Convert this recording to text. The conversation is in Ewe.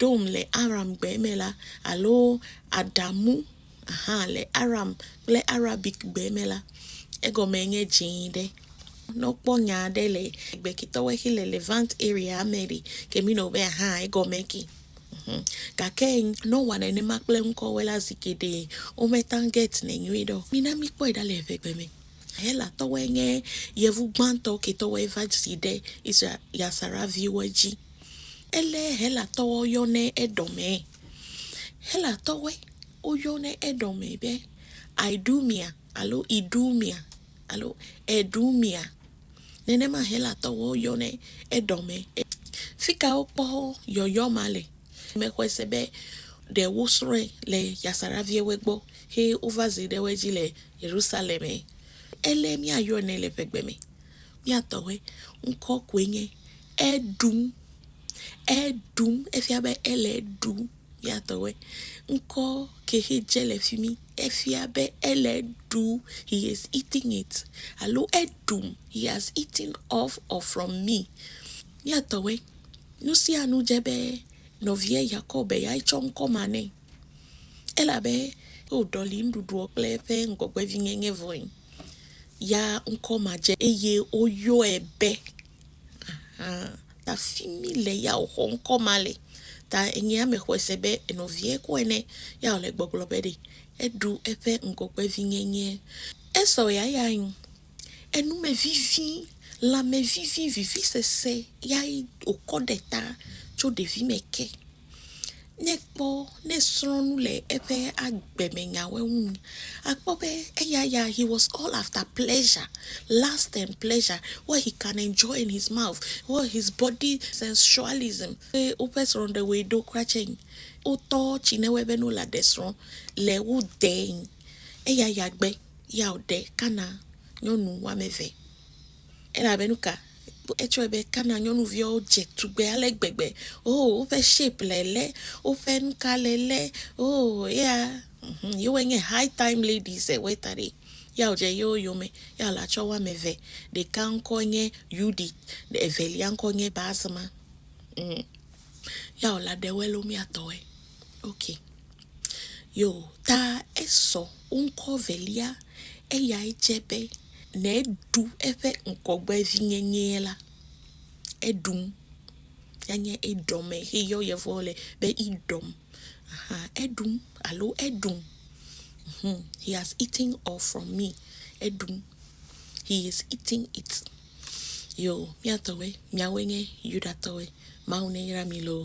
Adom le Aramgbe me la, alo Adamu hã le Aram kple Arabikgbe me la, egɔmee nye Dzẽ Ɖe. Ne wokpɔ nya aɖe le Gbekitɔwo xe le Levant area me ɖe, Kemino be hã egɔmee ke. Mhm. Gake ne wowɔ nenema kple ŋkɔwoe la, zi geɖe wometã getnɛ nyuiɖe o. Mina míkpɔe ɖa le eŋegbe me. Helatɔwoe nye yevu gbãtɔ ketɔwoe va dzi ɖe Israel ya Sara viwo dzi. Ele Helatɔwo yɔnɛ Edɔmɛ. Helatɔwoe woyɔnɛ Edɔmɛ be Idumea alo Idumea alo Edumea. Nenema Helatɔwo yɔnɛ Edɔmɛ. Fi ka wokpɔ yɔyɔ ma le? Mexɔe se be ɖe wosrɔ̃e le Yasaraviɛwoe gbɔ he wova ze ɖe wo dzi le Yerusalɛmɛ. Ele míayɔɛ nɛ le ƒegbe me. Mía tɔ ƒe ŋkɔ koe nye Eɖum. Eɖum, efia be ele eɖum. Mía tɔ ƒe ŋkɔ ke xe dze le fi mi, efia be ele eɖum, he is eating it, alo eɖum, he has eaten off or from me. Mía tɔ ƒe, nu sia nu dze be nɔvia Yakob be yeatsɔ ŋkɔ ma nɛ. Elabe woɖɔli nuɖuɖuɔ kple eƒe ŋgɔgbevinyenye vɔe, ya ŋkɔ madze eye woyɔe be. Aha, ta fi mi le ya wòxɔ ŋkɔ ma le. Ta enye ame xɔe se be nɔviae kɔe nɛ, ya wòle gbɔgblɔ be ɖe eɖu eƒe ŋgɔgbevinyenye. Esau ya ya nyi enume vivi, lãme vivi, vivisese yae wòkɔ ɖe ta tso ɖevime ke. Nekpɔ ne srɔ̃ nu le eƒe agbe me nyawo ŋu akpɔ be eya ya he was all after pleasure last and pleasure what he can enjoy in his mouth what his body sensualism eye woƒe srɔ̃ɖewoe ɖo kura tsɛ wotɔ tsi ne wɔe be ne wole aɖe srɔ̃ le wo dee eya ya gbe ya wòɖe kana nyɔnu wɔme eve. Elabe nuka? Etsɔe be Kana nyɔnuviawo dze tugbe ale gbegbe. Oo, woƒe shape le lé, woƒe nuka le lé. Oo, ya, mhm, yewoe nye high time ladies ewoe ta ɖi. Ya wòdze yewo yome. Ya wòle atsɔ wo ame eve. Ɖeka ŋkɔ nye Yudit, evelia ŋkɔ nye Basma. Mm. Ya wòle aɖe wo elomiatɔe. Ok. Yo, ta esɔ wo ŋkɔ velia, eyae dze be ne eɖu eƒe ŋgɔgbevinyenyee la, eɖum. Anye eɖɔme heyɔ Yevuwo le be eɖɔm. Aha, eɖum alo eɖum. Mhm, he has eaten or from me. Eɖum. He is eating it. Yo, mía tɔwoe, míawoe nye Yudatɔwoe. Mawu neyra mí loo.